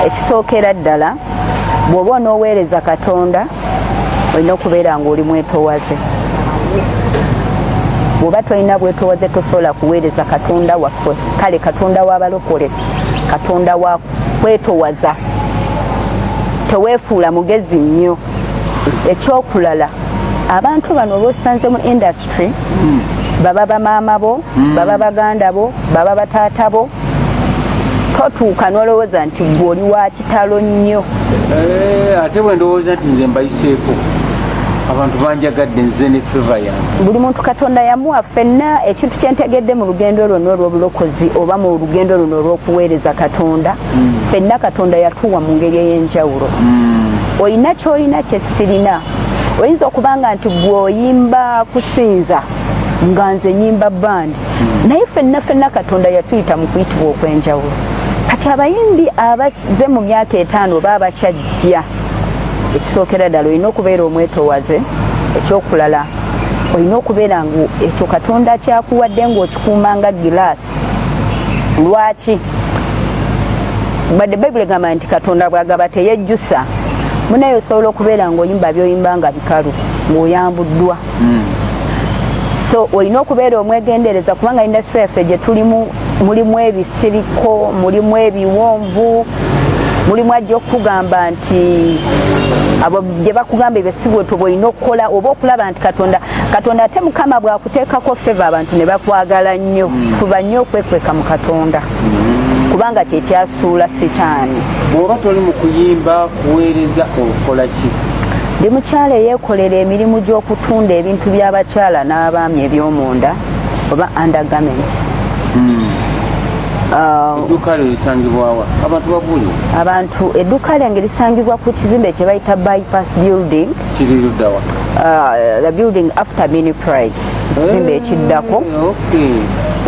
ekisookera ddala bw'oba onooweereza katonda olina okubeera ng'oli mwetowaze bw'oba tolina bwetowaze tosobola kuweereza katonda waffe kale katonda w'abalokole katonda wa kwetowaza teweefuula mugezi nnyo ekyokulala abantu bano obaosanze mu industry baba bamaama bo hmm. baba baganda bo baba bataata bo totuuka nolowooza nti gwe oli wa kitalo nnyo eh, ate bwe ndowooza nti nze mbayiseeko abantu banjagadde nze ne feva yange buli muntu katonda yamuwa fenna ekintu kyentegedde mu lugendo lwonna olw'obulokozi oba mu lugendo luno olw'okuweereza katonda mm. fenna katonda yatuwa mu ngeri ey'enjawulo mm. olina kyolina kyesirina oyinza okubanga nti gweoyimba kusinza nga nze nyimba bandi naye fenna fenna katonda yatuyita mu kuyitibwa okwenjawulo kati abayimbi abaze mu myaka etaano oba abakyajja ekisookera ddala olina okubeera omwetowaze ekyokulala olina okubeera ngu ekyo katonda kyakuwadde ngaokikuuma nga gilaasi lwaki badde bayibuli egamba nti katonda bwagaba teyejjusa munaye osobola okubeera ngaoyimba byoyimba nga bikalu ngaoyambuddwa mm. so olina okubeera omwegendereza kubanga industry yaffe gyetulimu mulimu ebisiriko mulimu ebiwonvu mulimu ajja okukugamba nti abo gye bakugamba ebyo si bwetwe bwolina okukola oba okulaba nti katonda katonda ate mukama bwakuteekako feva abantu ne bakwagala nnyo mm. fuba nnyo okwekweka mu katonda kubanga kyekyasuula sitaani bwoba toli mu kuyimba kuweereza okola ki ndi mukyala eyeekolera emirimu gy'okutunda ebintu by'abakyala n'abaami eby'omunda oba undergarments hmm. uh, edduuka lyo lisangibwawa abantu babuuli abantu edduuka lyange lisangibwa ku kizimbe kye bayita bypass building kiri luddawa uh, the building after mini price simba ekiddako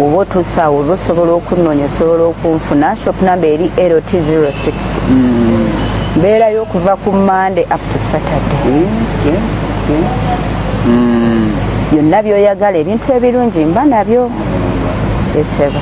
oba otuusaawo oba osobola okunoonya osobola okunfuna shop number eri lt 06 mm. mbeerayo okuva ku monday up to saturday mm. byonna byoyagala ebintu ebirungi mba nabyo esebo